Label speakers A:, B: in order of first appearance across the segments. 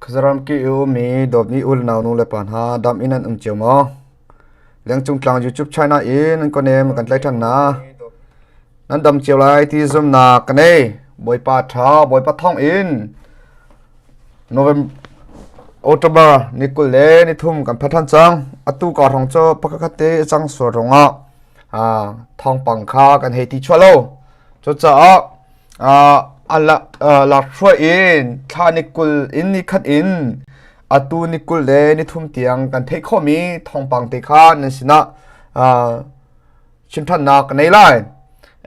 A: Khuazaram ke i ummi dawtmi unaunu le pa hna dam in an um cio maw? Lengcung tlang YouTube China in nan kawnem kan tlai ṭhan hna. Nan dam cio lai ti zumnak ka nei. Bawipa ṭha, Bawipa thawng in November October ni kul le ni thum kan pha ṭhan cang. Atu ka rong cu pakhat te a cang sual rongah thawngpang kha kan hei ti chuah lo. Cucaah A lakhruai in thla ni kul in ni khat in atu ni kul le nithum tiang kan theih khawhmi thawngpang te kha nan sinah chimṭhannak ka nei lai.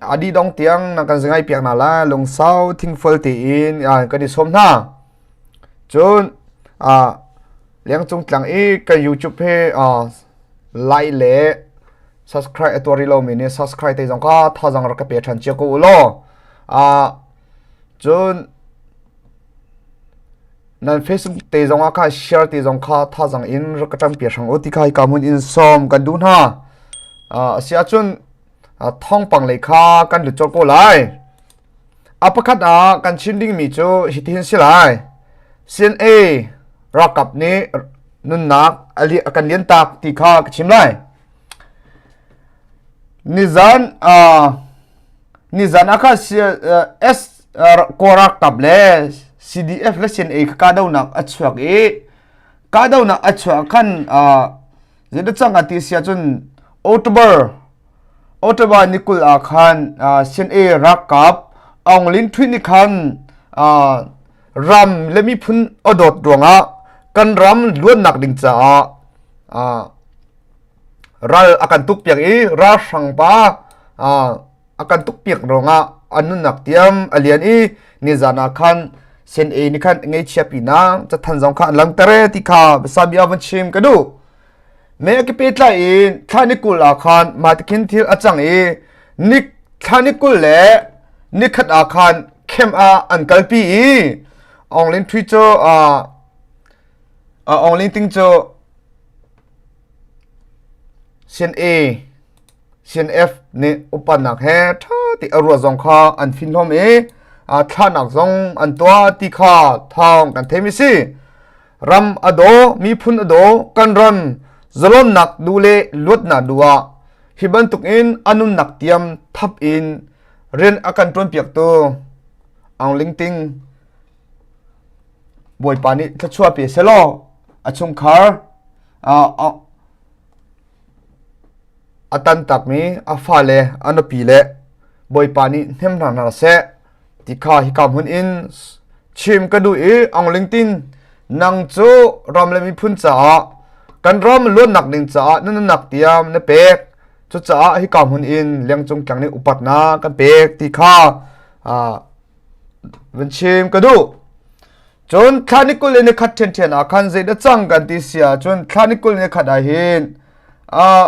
A: A dih dong tiang na kan zangai piak hna lai. Lungsau thingful tiin kan i sawm hna. Cun Liangcung tlang i kan YouTube he lai le subscribe a tuari lomi nih subscribe te zong ka thazang rak ka pe than chia ko u law a cun nan facebook te zong ah ka share te zong kha thazang in rak ka tam pe sang u ti kai ka mun in som kan du na a sia chun thong pang le kha kan lut chol ko lai a pakhat a kan chin ding mi chu hi tin si lai sin a rakap ni nunnak ali kan lian tak ti kha ka chim lai Nizan ah khan Kawlralkap le CDF le Senei kha kahdohnak a chuak i kahdohnak a chuah ah khan zeidah cang a ti a si ahcun October ni kul ah khan Senei ralkap Aung Lin Htwit nih khan ram le miphun adawt ruangah kan ram luannak ding caah ral akan tuk piak i ralhrang pa akan tuk piak ruangah an nunnak tiam alian i nizan ah khan sen e ni khan ngei chia pi na chathan zong kha an lang tere ti kha besami avan chim ka du Meh a ka pe tlai i thlainik kul ah khan mahti khin thil a cang i nik thlainik kul le nikhat ah khan khem ah an kalpi i Aung Ling Ṭhui cu a a Aung Ling Ting cu Sin A Sin F nih upannak he ṭha ti a ruah zong kha an fin hlawm i a thlahnak zong an tuah ti kha thawng kan theimi si. ram a daw miphun a daw kan ram zalonnak du le luatnak du ah hi bantuk in anunnak tiam thap in rian a kan tuan piak tu ang ling ting bawipa nih thlachua pe se law a chung khar a tan tak mi a fa le a nupi le bawipa nih hnem hna hna se Tikha hika hmun in chim ka duh i Aungling tin nang cu ram le miphun caah kan ram luatnak ding caah na nunnak tiam na pek cucaah hika hmun in lengcung kyang nih upatnak kan pek ti kha ah van chim ka duh cun thlani kul in khat ṭhian ṭhian ah khan zeidah cang kan ti si ahcun thlani kul in khat ah hin ah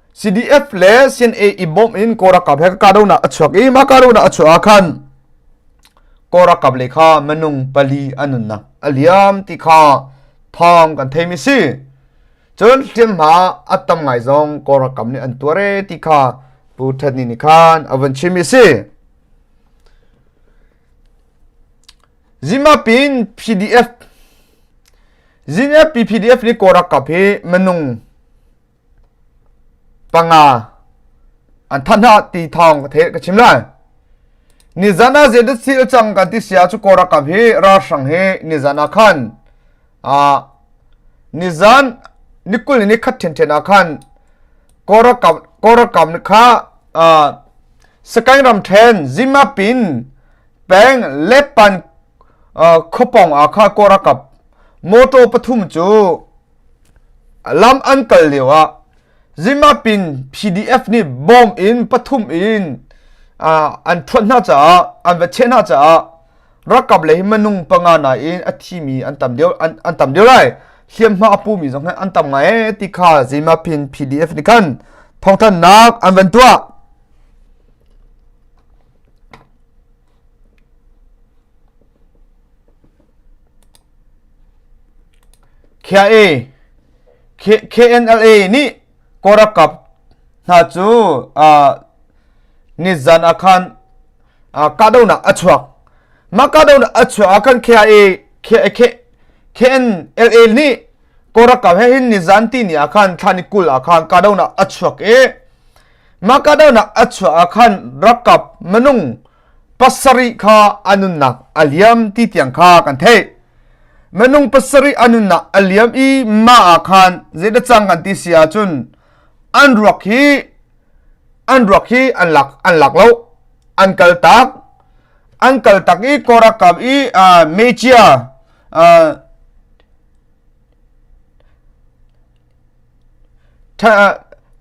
A: CDF le CNA i bawm in kawlralkap he kahdohnak a chuak i mah kahdohnak a chuah ah khan kawlralkap le kha minung pali an nunnak a liam ti kha thawng kan theimi si cun hliamhma a tam ngai zong kawlralkap nih an tuare ti kha pu ṭhatni nih khan a van chimmi si zimapin pdf zinapi pdf ni kawlralkap hi minung panga an than ha ti thawng ka the ka chim lai ni zana je da sil chang kan ti sia chu kora kam hi ra sang he ni zana khan a ni zan ni kul ni khat then then a khan kora kam kora kam kha a skai ram then zima pin peng lepan khopong a kha kora kap moto pathum chu Lam an kal lioah Zimap in PDF nih bomb in pathum in an thuanh hna caah an va cheh hna caah ralkap lei minung panga nain a thimi an tam deuh an tam deuh lai hliamhma a pumi zong an tam ngai ti kha Zimap in PDF nih khan thawngthanhnak an van tuah. KNLA nih Korokap hna cu nizan ah khan kahdohnak a chuak. Mah kahdohnak a chuah ah khan KNLA nih Korokap he hin nizan ti ni ah khan thlan i kul ah khan kahdohnak a chuak i Makadawnak a chuah ah khan rakap manung pasarih kha anunnak a liam ti tiang kha kan theih. Manung pasarih anunnak a liam i ma ah khan zeidah cang kan ti si ahcun an ruak hi an ruak hi an lak an lak lo an kal tak an kal tak i korakam i uh, mecia uh,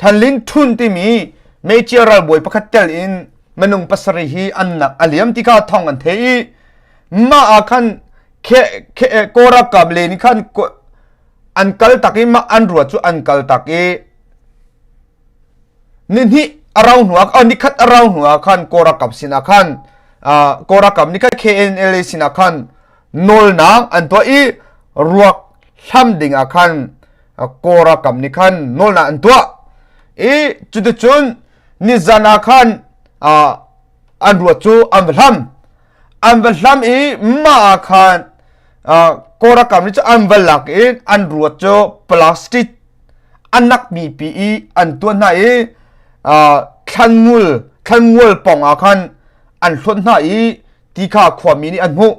A: Thanlin Htun timi meicia ralbawi pakhat tel in minung pasarih hi annak a liam tika thong an the i mah ah khan Korakam le nih khan an kal tak i mah an rua cu an kal tak i nihnih a rau hnuah oh nikhat a rau hnuah khan Korakam sinah khan Korakam nikhat KNLA sinah khan nawlnak an tuah i ruak hlam dingah khan kora kam nih khan nawlnak an tuah i cuticun nizan ah khan an ruat cu an va hlam an va hlam i mah ah khan kora kam nih cu an va lak i an ruat cu plastic an nakmi pi i an tuan hna i thlanngul thlanngul pong ah khan an hlon hna i ti kha khuami nih an hmuh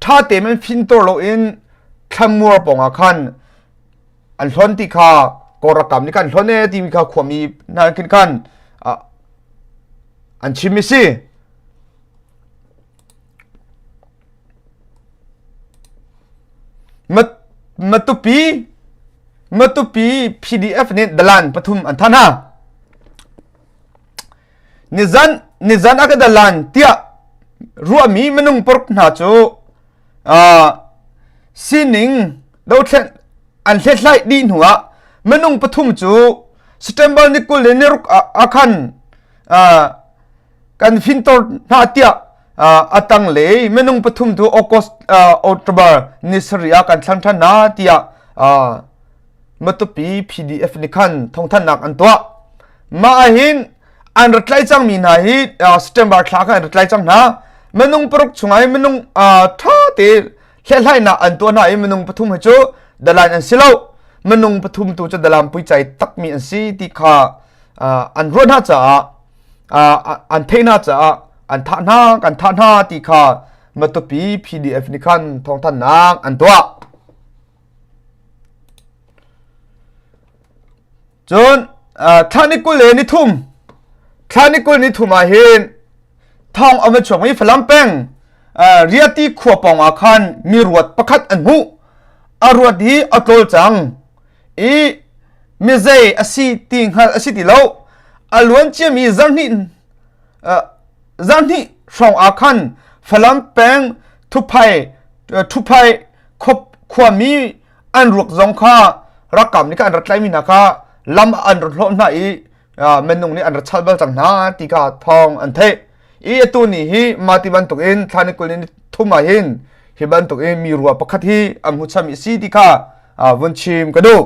A: ṭha temen fintor loin thlanmuar pongah khan an hlon ti kha korakam nih kan hlon e timi kha khuami hna khin khan an chim si matupi matupi pdf nih dalan pathum an than ha nizan nizan a ka dalan tiah ruahmi minung pork hna cu sining dothlen an hlethlai dih hnu ah minung pathum cu September ni kul le ni ruk a khan kan fintor hna tiah atang le minung pathum tu August October ni sari a kan thlang than na tiah matupi PDF nih khan thawngthannak an tuah mah ah hin an rat lai cang mi hna hi September thla khan an rat lai cang hna minung paruk chung ai minung tha te hlehlainak an tuah hna i minung pathum hi cu dalan an si lo minung pathum tu cu dalam pui chai takmi an si ti kha an ruat hna caah an theih hna caah an thah hna kan thah hna ti kha matupi PDF nih khan thawngthannak an tuah Cun thla ni kul le ni thum thla ni kul ni thum ah hin thawng a va chuak i Falam peng Riati khua pawng ah khan mi ruat pakhat an hmuh a ruat hi a tlawl cang i mizei a si ti hngal a si ti lo a luan ciami zarhnih zarhnih hrawng ah khan Falam peng Thuphai Thuphai khuami an ruak zong kha rakam nih kan rat tlai mi hna kha lam an rat hlo hna i menung nih an rat chal bal cang hna ti ka thawng an theih i atu ni hi mati bantuk in thlani kul in thuma hin hi bantuk in mi rua pakhat hi am hu cham i si ti kha vun chim ka duk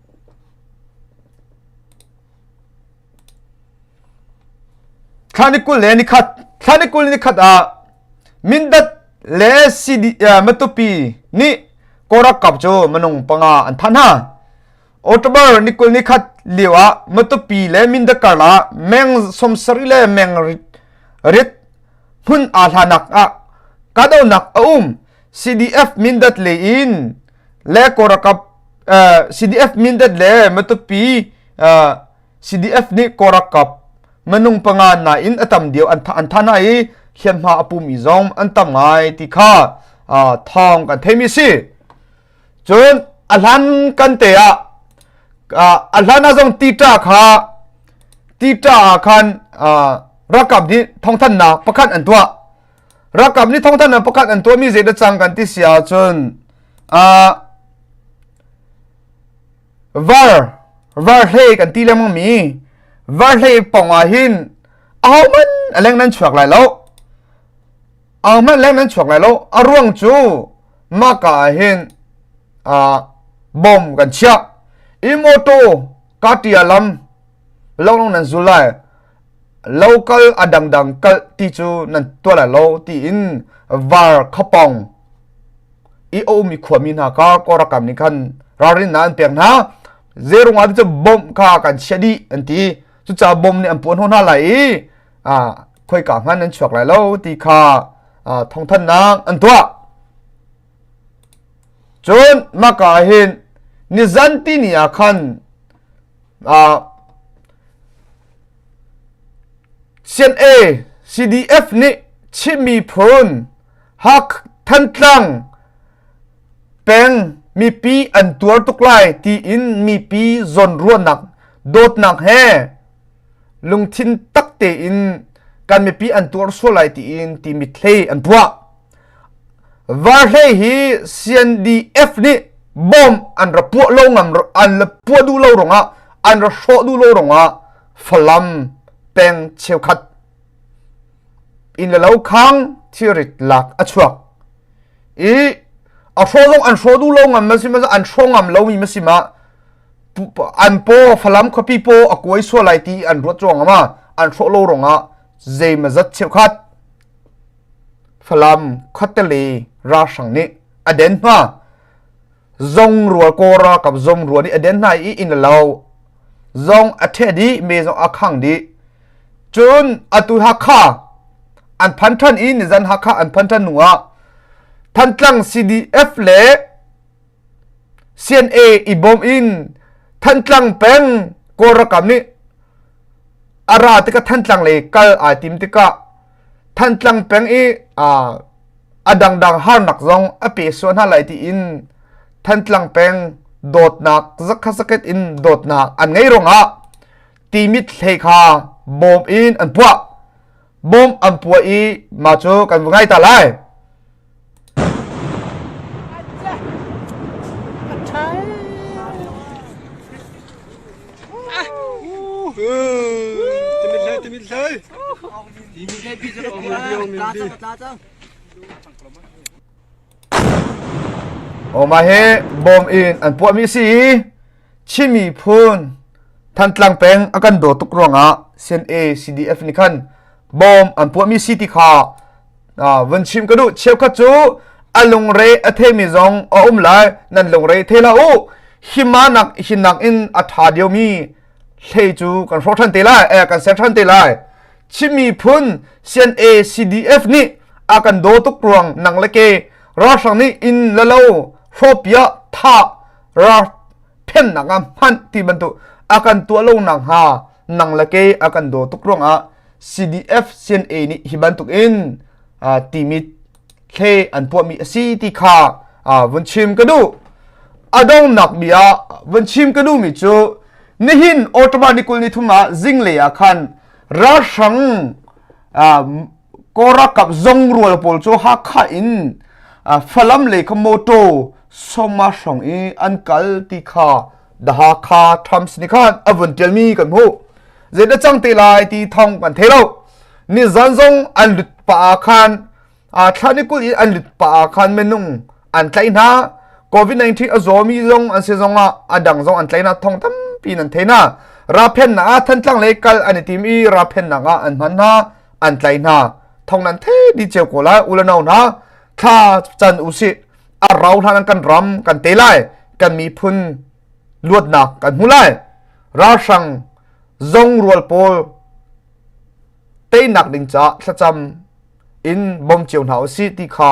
A: Thla ni kul le ni khat thla ni kul ni khat ah Mindat le CD, uh, Matupi nih korak kap cu manung panga an thanh hna October ni kul ni khat lio ah Matupi le Mindat karla meng somsari le meng rit, rit hmun aa hlanak ah kahdohnak a um CDF Mindat le in le korakap CDF mindat le matupi CDF nih korakap manung panga na in atam dio an an thana i hian ma apumi zong an tam ngai ti kha thong kan theimi si cun ahlan kan te ah ahlan a zong tita kha tita ah khan rakap di thongthan nak pakhat an tua rakam ni thongthan an pakhat an tuami zeidah cang kan ti si ahcun uh, var var hle kan ti lengmang mi var hle pong ah hin ahoman aleng nan chuak lai lo ahoman leng nan chuak lai lo a ruang cu maka ah hin uh, bom kan chia i moto katia lam long nan zul lai lo kal a dangdang kalh ti cu nan tuah la lo tiin var khapong i omi khuami hna ka korakam nih khan ralrin na an pek hna zerung ah cu bom kha kan chia dih an ti cuca bom nih an puan hon hna lai i a khoi ka ngan an chuak lai lo ti kha thongthannak an tuah Cun maka hin nizanti ni ah khan CNA CDF nih Chinmi phun Hak Thantlang peng mipi an tuar tuk lai tiin mipi zawnruahnak dawtnak he lungthin tak tein kan mipi an tuar sual lai tiin ti mithlei an puah. Varhlei hi CNDF nih bom an ra puah lo ngam an la puah duh lo rongah an ra hrawh duh lo rongah Falam peng cheukhat in le lo khang thirit lak a chuak i a hraw zong an hraw duh lo ngam ma si ma an hraw ngam lo mi ma si ma an po Falam khuapi po a kuai sual lai ti an ruat chuang ma an hraw lo rongah zei ma zat cheukhat Falam khuateli ralhrang nih a den hna. Zong rual kaw ralkap zom rual nih a den hna i inn a lo. Zong a ṭheh dih, me zong a khang dih. Cun atu Hakha an phan ṭhan i nizan Hakha an phan ṭhan hnuah Thantlang CDF le CNA i bawm in Thantlang peng Kawlralkap nih a ra tikah Thantlang lei kal ai tim tikah Thantlang peng i a dangdang harnak zong a pe sual hna lai tiin Thantlang peng dawtnak zakhazaket in dawtnak an ngei rungah timit hlei kha bawm in an puah bom an puah i ma cu kan va ngai ta lai Oma hi bom in an puah mi si i Chin miphun Thantlang peng a kan daw tuk ruangah CNA CDF nih khan bom an puahmi si ti kha vun chim ka duh cheukhat cu a lungre a themi zong a um lai nan lungre the la u hima nak hin nak in a tha dio mi hlei cu kan hro than te lai eh kan ser than te lai chimi phun CNA CDF nih a kan do tuk ruang nang le ke ra sang ni in lalo hropia tha rak phennak ah hmanh ti bantuk a kan tuah lo nak hnga nang le ke a kan do tuk ruangah CDF CNA nih hi bantuk in timit hle an puahmi asi ti kha vun chim ka du adong nak bia vun chim ka du mi chu nihin automatically thuma zinglea khan ralhrang Korokap zong rual pawl cu Hakha in Falam le kha motor soma hrong i an kal ti kha The Hakha Times nih khan a vun tialmi kan hmuh. Zeidah cang te lai ti thong kan thei lo. Nizan zong an lut pa ah khan a thlan i kul in an lut pa ah khan menung an tlai hna. COVID-19 a zawmi zong an se zong ah a dang zong an tlai na thong tampi nan theina. Raphen na a thantlang le kal an i tim i raphen na ah an hman na an tlai hna thong nan the di cheu ko lai u le no hna thla chan u si a rau hlan kan ram kan te lai kan miphun luatnak kan hmu lai ralhrang zong rual pawl teinak ding ca thlacam in bom cio hna u si ti kha